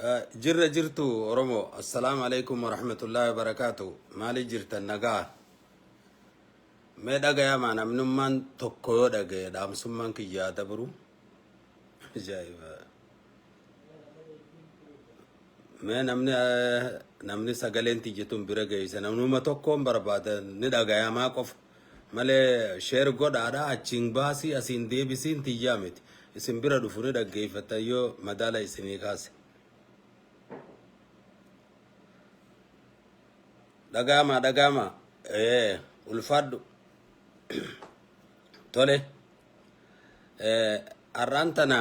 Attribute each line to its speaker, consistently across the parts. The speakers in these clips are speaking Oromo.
Speaker 1: Eh, Jirra jirtu Oromoo. Assalaamu alaikum warahmatullahi wabarakaatu. Maali jirtan nagaa? Mee dhagayamaa namnummaan tokko yoo dhagaye dhaamsummaan kiyyaa dabru. Ajaa'iba. Mee namni eh, namni sagaleen tiyya tun bira geeyse namnuma tokkoon barbaada ni dhagayamaa qofa. malee share godhaadha achiin baasii asiin deebisiin tiyyaa miti isin bira dhufu ni dhaggeeffattan yoo madaala isinii kaase dhagaamaa dhagaamaa ee ulfaadhu tole ee har'aan tana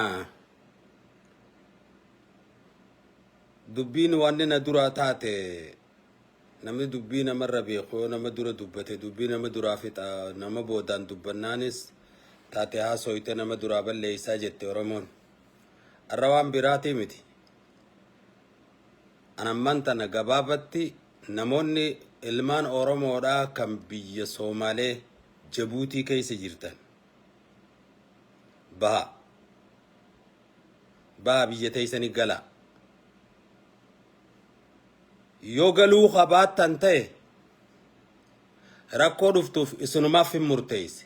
Speaker 1: dubbiin wanni na duraa taate Namni dubbii namarra beeku yoo nama dura dubbate dubbii nama duraa fixa nama boodaan dubbannaanis taate haasooyte nama duraa balleeysaa jette Oromoon. Arra waan biraatii miti. An ammaan tana gabaabatti namoonni ilmaan Oromoodhaa kan biyya Soomaalee Jabuutii keessa jirtan baha. Baha biyya teeysanii galaa. yoo galuu ka baattan ta'e rakkoo dhuftuuf isinumaaf hin murteeyse.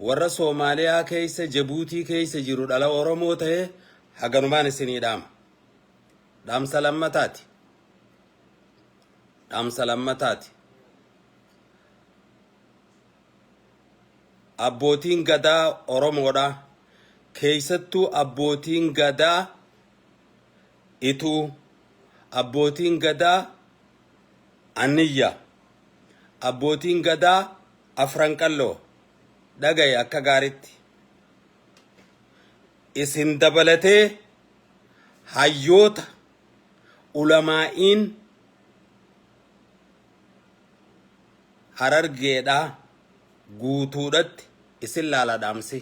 Speaker 1: Warra Soomaaliyaa keeysa Jabuutii keeysa jiru dhala Oromoo ta'e haganumaan isinii dhaama. Dhaamsa lammataati. Dhaamsa lammataati. Abbootiin gadaa Oromoodha. Keeysattuu abbootiin gadaa Ituu, Abbootiin Gadaa Anniyya, Abbootiin Gadaa Afran Qalloo, dhaga'i akka gaaritti. Isin dabalatee hayyoota, ulamaa'iin Harargeedhaa guutuudhatti isin laala dhaamsi.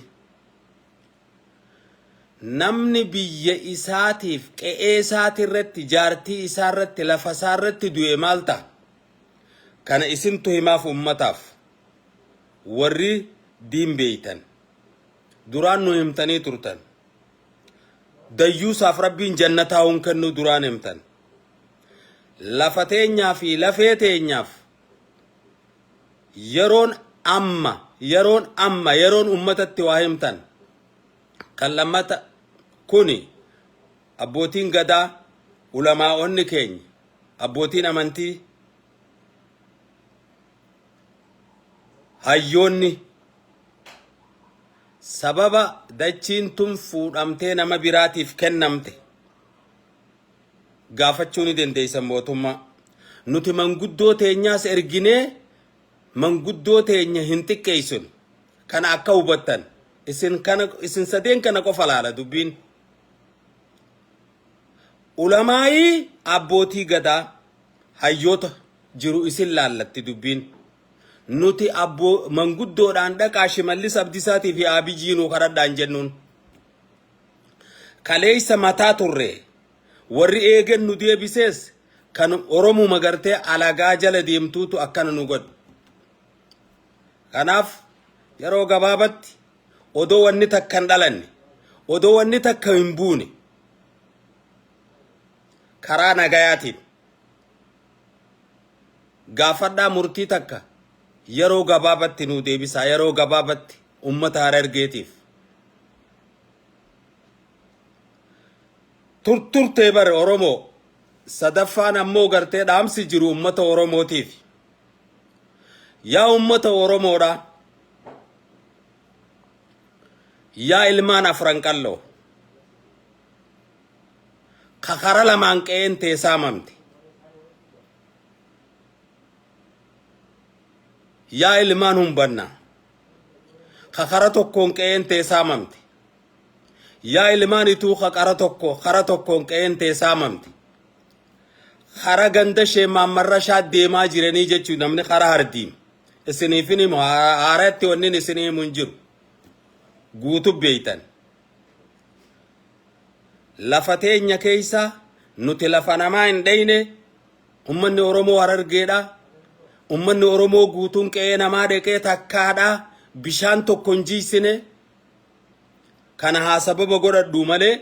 Speaker 1: Namni biyya isaatiif, qe'ee isaati irratti, jaartii isaa irratti, lafa isaa irratti du'e maal ta'a? Kana isintu himaaf uummataaf. Warri diin beeytan. Duraan nu himtanii turtan. Dayyuusaaf Rabbiin jannataa hun kennuu duraan himtan. Lafa teenyaa fi lafee teenyaaf yeroon amma yeroon amma yeroon ummatatti waa himtan kan lammata kuni abbootiin gadaa ulamaa'onni keenya abbootiin amantii hayyoonni sababa dachiin tun fuudhamtee nama biraatiif kennamte gaafachuu ni dandeessan mootummaa. Nuti manguddoo teenyaas erginee manguddoo teenya hin xiqqeessinu. Kana akka hubattan isin kana isin sadeen kana qofa laala dubbiin. Ulamaa'ii abbootii gadaa hayyoota jiru isin laallatti dubbiin. Nuti abboo manguddoodhaan dhaqaa shimallis abdisaatii fi aabijii nuu kadhadhaan jennuun. Kaleessa mataa turre. Warri eegen nu deebisees kan Oromuma gartee alagaa jala deemtuutu akkana nu godhe. Kanaaf yeroo gabaabatti odoo wanni takka hin dhalanne, odoo wanni takka hin buune karaa nagayaatiin gaafadhaa murtii takka yeroo gabaabatti nu deebisaa, yeroo gabaabatti ummata Harargeetiif turturtee bare Oromoo sadaffaan ammoo gartee dhaamsi jiru ummata Oromootiif yaa ummata Oromoodha yaa ilmaan afran qalloo ka kara lamaan qe'een tee saamamte yaa ilmaan humbanna ka kara tokkoon qe'een tee saamamte. Yaa ilmaan ituu ka qara tokko kara tokkoon qe'een tee saamamte. Kara ganda Sheekh Mahammad Rashaad deemaa jiranii jechuu namni kara hardiim. Isiniif hin himu haaratti wannin isin himu hin jiru. Guutu beeytan. Lafa teenya keeysa nuti lafa namaa hin dheyne Ummanni Oromoo Harargeedha. Ummanni Oromoo guutuun qe'ee namaa dheqee takkaadha. Bishaan tokko hin jiisine. Kana haa sababa godhadhu malee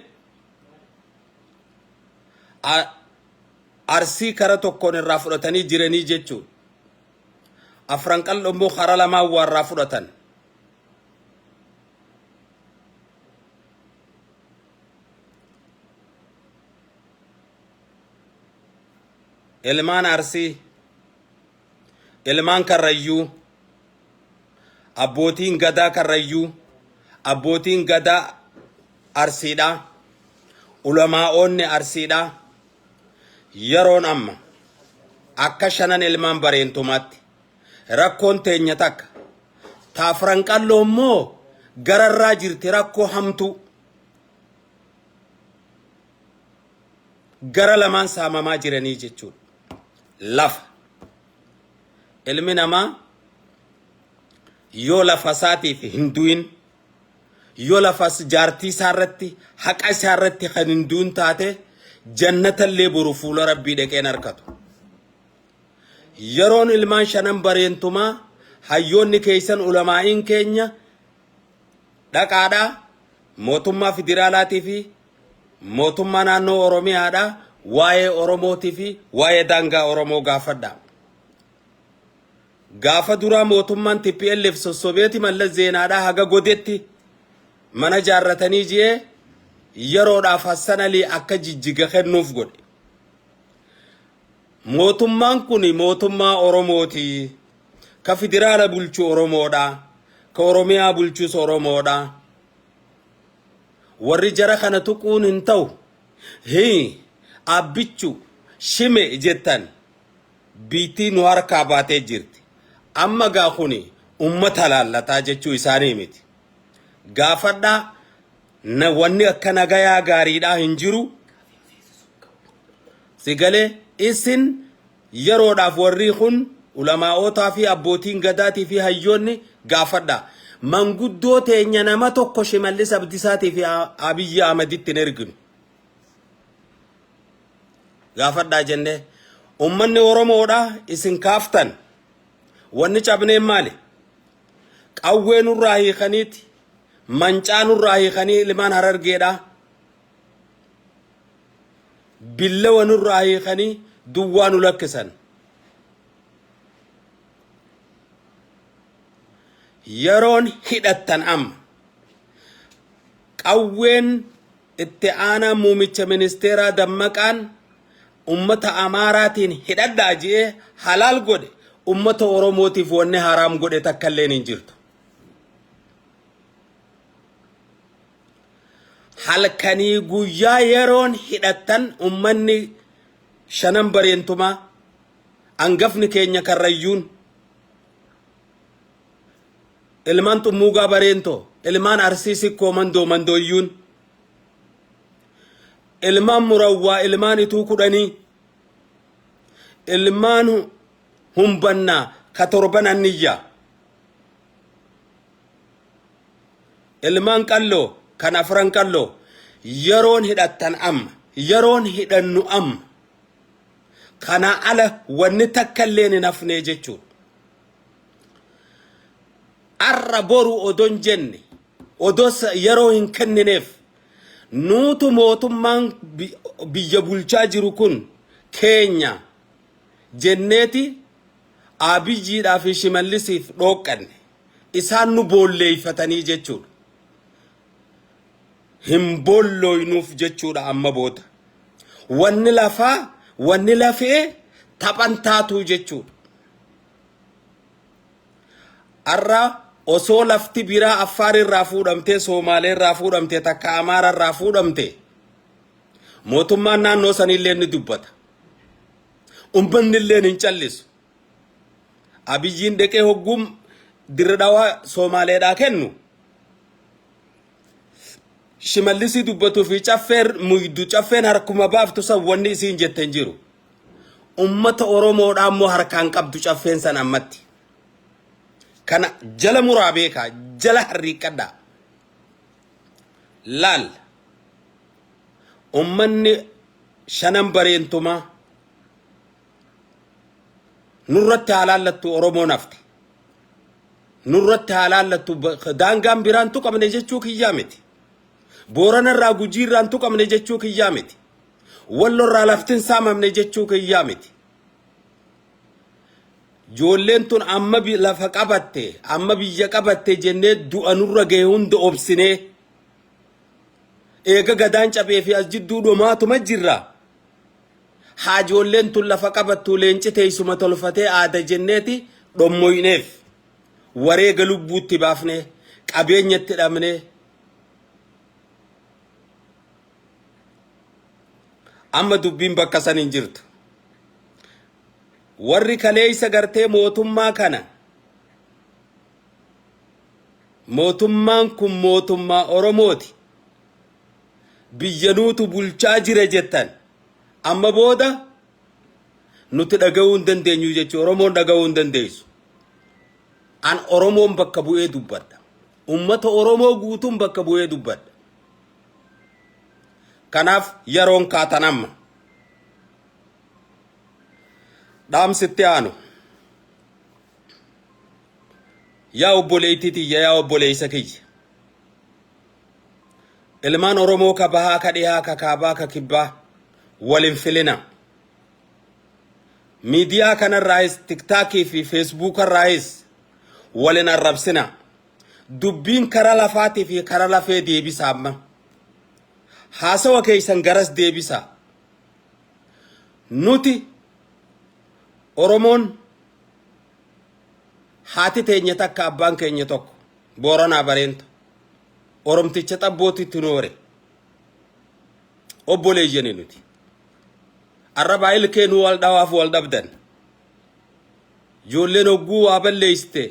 Speaker 1: arsii kara tokkoon irraa fudhatanii jiranii jechuun afran qal'oo immoo kara lamaan waarraa fudhatan. ilmaan Arsii, ilmaan Karrayyuu, abbootiin gadaa Karrayyuu, abbootiin gadaa Arsiidha, ulamaa'oonni Arsiidha. Yeroon amma akka shanan ilmaan bareentumaatti rakkoon teenya takka taafran qalloo immoo gararraa jirti rakkoo hamtuu. gara lamaan saamamaa jiranii jechuudha. Lafa. Ilmi namaa yoo lafa isaatiif hin du'in, yoo lafa jaartii isaa irratti, haqa isaa irratti kan hin du'in taate, jannata illee boru fuula Rabbii dhaqee hin arkatu. Yeroon ilmaan shanan bareentumaa hayyoonni keessan ulamaa'iin keenya dhaqaadhaa mootummaa federaalaatii fi Mootummaa naannoo Oromiyaadhaa waa'ee Oromootii fi waa'ee daangaa Oromoo gaafadhaa. Gaafa duraa mootummaan TPLF sossobeeti Mallas Zeenaadhaa haga godetti mana jaarratanii ji'ee yeroodhaaf Hassan Alii akka jijjiga kennuuf godhe. Mootummaan kun mootummaa Oromooti. Ka federaala bulchu Oromoodha. Ka Oromiyaa bulchus Oromoodha. Warri jara kana tuquun hin ta'u. Hii, Abbichu, Shime jettan biittii nu harkaa baatee jirti. Amma gaa kuni ummata laallataa jechuu isaanii miti. Gaafadhaa na wanni akka nagayaa gaariidhaa hin jiru. Sigalee isin Yeroodhaaf warrii kun ulamaa'ootaa fi abbootiin gadaatii fi hayyoonni gaafadhaa. Manguddoo teenya nama tokko Shimallis Abdisaatii fi Abiyyi Ahmaditti hin erginu. Gaafadhaa jennee. Ummanni Oromoodha isin kaaftan. Wanni cabneen maali? Qawwee nurraa hiikaniiti. Mancaa nurraa hiikanii ilmaan harargeedha. billawa nurraa hiikanii duwwaa nu lakkisan. Yeroon hidhattan amma. Qawween itti aanaa muumicha ministeeraa dammaqaan ummata Amaaraatiin hidhadhaa ji'ee halaal godhe ummata Oromootiif wanni haraam godhe takka illeen hin jirtu. halkanii guyyaa yeroon hidhattan ummanni shanan bareentumaa angafni keenya karrayyuun ilmaan xummuugaa bareentoo ilmaan arsii sikkoo mandoo mandooyyuun ilmaan murawwaa ilmaan ituu kudhanii ilmaan humbannaa ka torban anniyyaa Ilmaan qalloo kan afran qalloo yeroon hidhattan amma yeroon hidhannu amma kanaa ala wanni takka illee hin hafnee jechuun arra boru odon jenne odoo yeroo hin kennineef nuutu mootummaan biyya bulchaa jiru kun keenya jenneeti Aabiyyiidhaa fi Shimallisiif dhooqqanne. Isaan nu boolleeyfatanii jechuudha. Hin boollooynuuf jechuudha amma booda. Wanni lafaa, wanni lafee taphan taatuu jechuudha. Har'a osoo lafti biraa Affaar irraa fuudhamtee, Soomaalee irraa fuudhamtee, takka Amaara irraa fuudhamtee, mootummaan naannoo saniillee ni dubbata. Ummanni illeen hin callisu. Abiyyiin deqee hogguu dirre dhawaa Soomaaleedhaa kennu. Shimallisii dubbatuu fi caffeer muydu caffeen harkuma baaftu san wanni isiin jette hin jiru. Ummata Oromoodhaa immoo harkaan qabdu caffeen san ammatti. Kana jala muraa beekaa jala harriiqqadhaa. Laal. ummanni shanan bareentumaa nurratti haa laallattu Oromoon hafte. Nurratti haa laallattu ba- daangaan biraan tuqamne jechuu kiyyaa miti. Booranarraa gujiirraan tuqamne jechuu kiyyaa miti. Wallorraa laftin saamamne jechuu kiyyaa miti. Joolleen tun amma bi- lafa qabatte, amma biyya qabatte jennee du'a nurra gahe hunda obsinee Eega gadaan cabee fi as jidduu dhomaatuma jirra. Haajoolleen tun lafa qabattuu leenci teessuma tolfatee aada jenneeti dhommoyneef. Wareega lubbuutti baafnee, qabeenyatti dhabnee. Amma dubbiin bakka san hin jirtu. Warri kaleessa gartee mootummaa kana Mootummaan kun mootummaa Oromooti. Biyya nuutu bulchaa jira jettan. Amma booda nuti dhaga'uu hin dandeenyu jechuun Oromoon dhaga'uu hin dandeessu. An Oromoon bakka bu'ee dubbadha. Uummata Oromoo guutuun bakka bu'ee dubbadha. Kanaaf yeroon kaatan amma. Dhaamsitti aanu. Yaa obboleettii tiyya yaa obboleessa kiyya. Ilmaan Oromoo ka bahaa ka dhihaa ka kaabaa ka kibbaa wal hin filinaa. Miidiyaa kanarraayis tiktaakii fi feesbuukarraayis wal hin arrabsinaa. Dubbiin kara lafaatii fi kara lafee deebisaa amma. Haasawa keessan garas deebisaa. Nuti Oromoon Haati teenya takka abbaan keenya tokko Booranaa Bareenta Oromticha xabbootti tunoore. Obboleeyyani nuti. Arrabaa ilkee nu wal dhawaaf wal dhabdan. Ijoolleen hogguu waa balleessite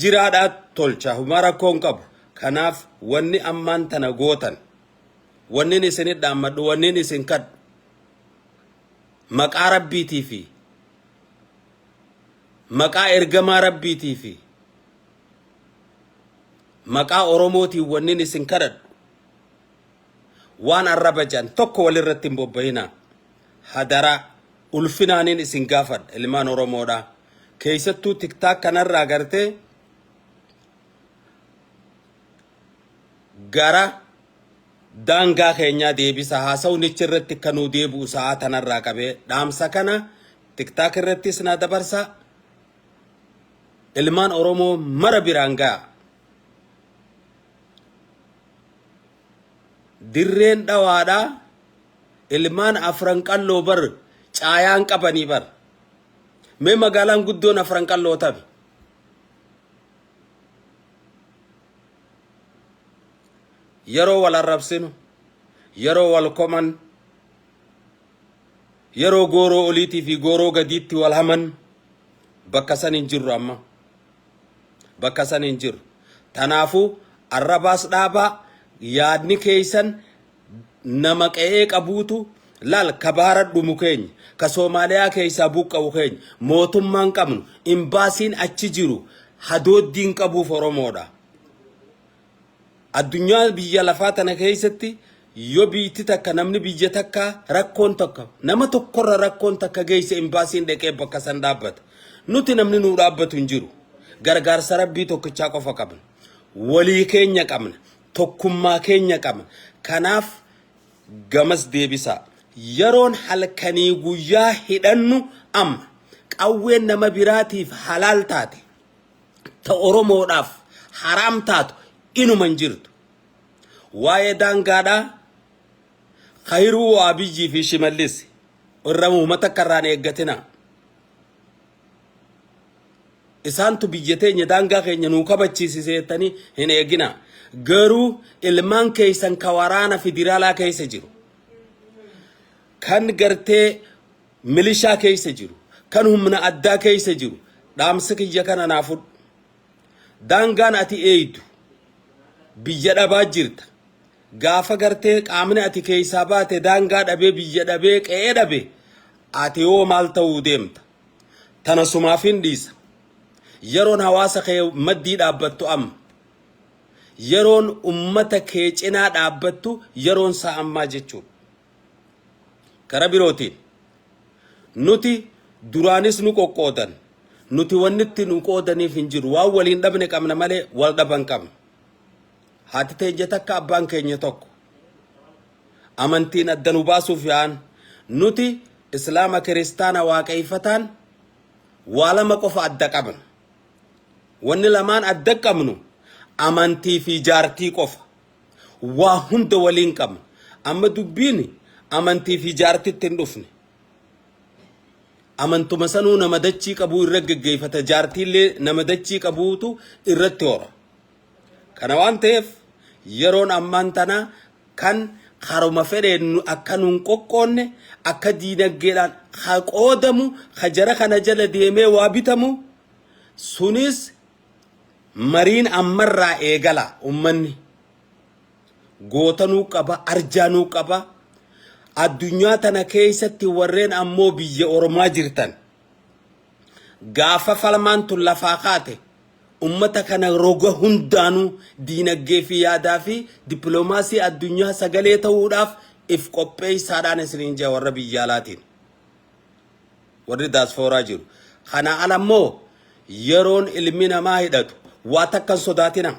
Speaker 1: jiraadhaa tolcha humaa rakkoo hin qabu. Kanaaf wanni ammaan tana gootan wannin isin dhaammadhu wannin isin kadhu Maqaa Rabbiitii fi Maqaa Ergamaa Rabbiitii fi Maqaa Oromootiin wannin isin kadhadhu waan arraba jedhan tokko walirratti hin bobba'inaa. Hadaraa ulfinaanin isin gaafadha ilmaan Oromoodhaa. Keessattuu tiktaak kanarraa gartee gara daangaa keenyaa deebisa haasawnichi irratti akka nuu deebi'u sa'aa tanarraa qabee dhaamsa kana tiktaak irrattis naa dabarsa ilmaan oromoo mara biraan ga'a dirreen dhawaadha ilmaan afran qalloo bar caayaan qabanii bar mee magaalaan guddoon afran qalloo tabi yeroo wal arrabsinu, yeroo wal koman, yeroo gooroo oliitii fi gooroo gadiitti wal haman bakka san hin jirru amma. Bakka san hin jirru. Tanaafuu arrabaas dhaabaa yaadni keeysan nama qe'ee qabuutu laal ka baara dhumu keenya ka Soomaaliyaa keeysaa buqqa'u keenya mootummaan qabnu imbaasiin achi jiru hadooddiin qabuuf Oromoodha. Addunyaa biyya lafaa tana keessatti yoo biitti takka namni biyya takka rakkoon tokko nama tokkorra rakkoon takka geesse imbaasiin dhaqee bakka san dhaabbata. Nuti namni nuu dhaabbatu hin jiru. Gargaarsa rabbii tokkichaa qofa qabna. Walii keenya qabna. Tokkummaa keenya qabna. Kanaaf gamas deebisaa. Yeroon halkanii guyyaa hidhannu amma. Qawween nama biraatiif halaal taate. ta Oromoodhaaf haraam taatu inuma hin jirtu. Waa'ee daangaadhaa Kayiruu Abiyyii fi Shimallis irra muhuma takka irraan eeggatina. Isaantu biyya teenya daangaa keenya nuu kabachiisise jettanii hin eegina. Garuu ilmaan keessan ka waraana federaalaa keessa jiru. Kan gartee milishaa keessa jiru, kan humna addaa keessa jiru dhaamsa kiyya kana naa fudhu. Daangaan ati eeydu biyya dhabaa jirta. Gaafa gartee qaamni ati keessaa baate daangaa dhabee biyya dhabee qe'ee dhabe ati hoo maal ta'uu deemta? Tana sumaafin dhiisa. Yeroon hawaasa kee maddii dhaabbattu amma. Yeroon ummata kee cinaa dhaabbattu yeroon isaa ammaa jechuudha. Kara birootiin, nuti duraanis nu qoqqoodan, nuti wanni itti nu qoodaniif hin jiru. Waan waliin dhabne qabna malee wal dhaban qabna. Haati teenya takka abbaan keenya tokko. Amantiin adda nu baasuuf yaa'an. Nuti Islaama Kiristaana Waaqayfataan waa lama qofa adda qabna. Wanni lamaan adda qabnu amantii fi jaartii qofa. Waa hunda waliin qabna. Amma dubbiin amantii fi jaartitti hin dhufne. Amantuma sanuu nama dachii qabuu irra geggeeffata. Jaartiillee nama dachii qabuutu irratti hora. Kana waan ta'eef yeroon ammaan tanaa kan haruma fedheen nu- akka nuun qoqqoonne akka diinaggeedhaan ha qoodamu ha jara kana jala deemee waa bitamu sunis Mariin ammarraa eegala ummanni goota nuu qaba arjaa nuu qaba addunyaa tana keessatti warreen ammoo biyya ormaa jirtan gaafa falmaan tun lafaa kaate ummata kana roga hundaanuu diinaggee fi yaadaa fi dippiloomaasii addunyaa sagalee ta'uudhaaf if qopheessaadhaan isiniin jaa warra biyyaalaatiin. Warri daaspooraa jiru. Kanaa ala immoo yeroon ilmi namaa hidhatu waa takka hin sodaatinaa.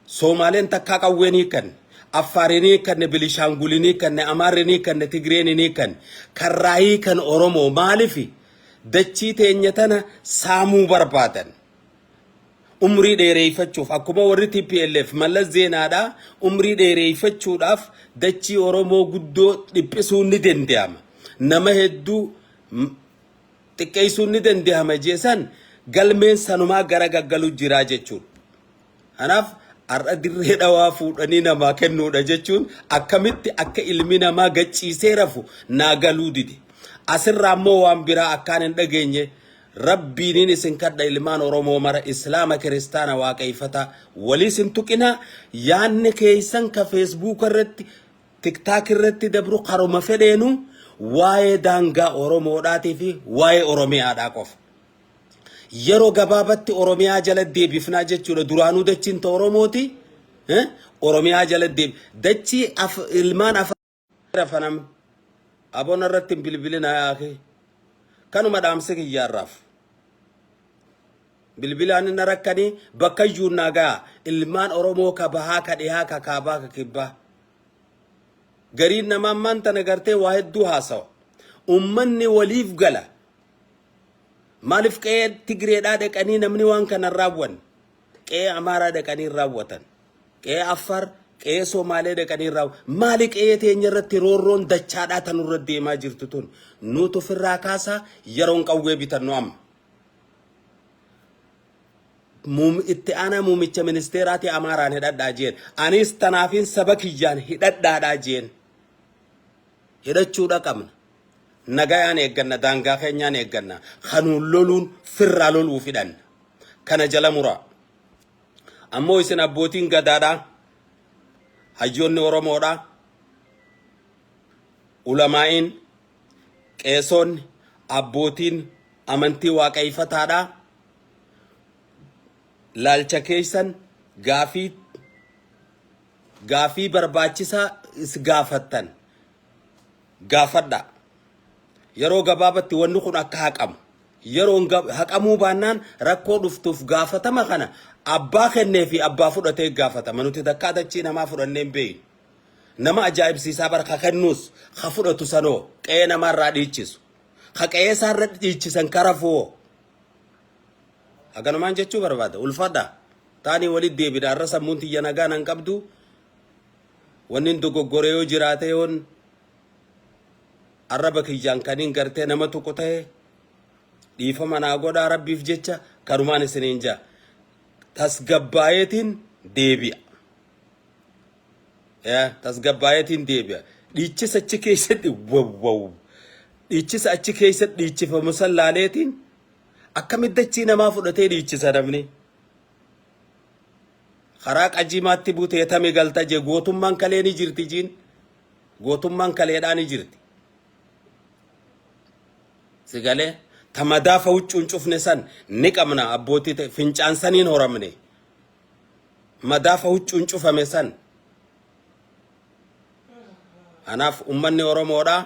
Speaker 1: Soomaaleen takkaa qawwee hin hiikkanne. Affaar hin hiikkanne, Bilishaangul hin hiikkanne, Amaarri hin hiikkanne, Tigreen hin hiikkanne. Karraa hiikan Oromoo maalifi dachii teenya tana saamuu barbaadan. umrii dheereeffachuuf akkuma warri TPLF mallas zeenaadhaa umrii dheereeffachuudhaaf dachii Oromoo guddoo dhiphisuun ni danda'ama. Nama hedduu xiqqeessuun ni danda'ama jeesan galmeen sanumaa gara gaggalu jiraa jechuudha. Kanaaf har'a dirree dhawaa fuudhanii namaa kennuudha jechuun akkamitti akka ilmi namaa gachiisee rafu naa galuu dide. Asirraa immoo waan biraa akkaan hin dhageenye rabbiiniin isin kadha ilmaan Oromoo mara Islaama kiristaana waaqayfataa waliis hin tuqinaa yaanni keeysan ka feesbuuka irratti tiktaak irratti dabru karuma fedheenu waa'ee daangaa Oromoodhaatii fi waa'ee Oromiyaadhaa qofa. Yeroo gabaabatti Oromiyaa jala deebifnaa jechuudha. Duraanuu dachiin ta Oromooti. eh, Oromiyaa jala deeb dachii af ilmaan afaan rafanam abona irratti hin bilbilinaa yaakee. Kanuma dhaamsi kiyyaarraaf. Bilbilaan inni rakkanii bakka iyyuu naa ga'a. Ilmaan Oromoo ka bahaa ka dhihaa ka kaabaa ka kibbaa. Gariin namaa ammaan tana gartee waa hedduu haasawa. Ummanni waliif gala. Maalif qe'ee Tigireedhaa dhaqanii namni waan kana hin raawwanne? Qe'ee Amaaraa dhaqanii hin raawwatan. Qe'ee Affaar, qe'ee Somaalee dhaqanii hin raawwatan. Maali qe'ee teenya irratti roorroon dachaadhaa tan irra deemaa jirtu tun? Nuutu ofirraa kaasaa yeroon qawwee bitannu amma. Muum- Itti aanaa muumicha ministeeraati Amaaraan hidhadhaa jeen. Anis tanaafiin saba kiyyaan hidhadhaadhaa jeen. Hidhachuudha qabna. Nagayaan eegganna, daangaa keenyaan eegganna. Ka nuun loluun firraa loluuf hidhanna. Kana jala muraa. Ammoo isin abbootiin gadaadhaa, hayyoonni Oromoodhaa, ulamaa'iin, qeesoonni, abbootiin amantii waaqayyifataadhaa laalcha keessan gaafii gaafii barbaachisaa is gaafattan gaafadhaa. Yeroo gabaabatti wanni kun akka haqamu. Yeroon gab- haqamuu baannaan rakkoo dhuftuuf gaafatama kana abbaa kennee fi abbaa fudhatee gaafatama. Nuti takkaa dachii namaa fudhannee hin beeynu. Nama ajaa'ibsiisaa bara ka kennuus ka fudhatu sanoo qe'ee namaarraa dhiichisu. Ka qe'ee isaarra dhiichisan karafuwoo. Haganumaan jechuu barbaada. Ulfadha. Taanii walitti deebina. Har'a sammuun tiyya nagaa nan qabdu. Wannin dogoggore yoo jiraate yoon arraba kiyyaan kanin gartee nama tuqu ta'e dhiifama naa godhaa rabbiif jecha kanumaan isiniin jaa tasgabbaayeetiin deebi'a. Yaa tasgabbaayeetiin deebi'a. Dhiichisa achi keessatti wawwaw. Dhiichisa achi keessatti dhiichifamu san laaleetiin akkamitti dachii namaa fudhatee dhiichisa namni. karaa qajimaatti butee tame galta jee gootummaan kalee ni jirti jiin gootummaan kaleedhaa ni jirti sigalee tamadaa fawuccuun cufne san ni qabna abbootii ta'e fincaan saniin horamne madaa fawuccuun cufame san kanaaf ummanni oromoodhaa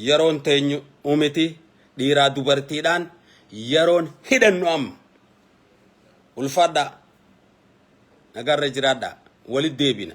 Speaker 1: yeroon teenyu umiti dhiiraa dubartiidhaan yeroon hidhannu amma Ulfaadhaa. Nagaarra jiraadhaa. Walit deebina.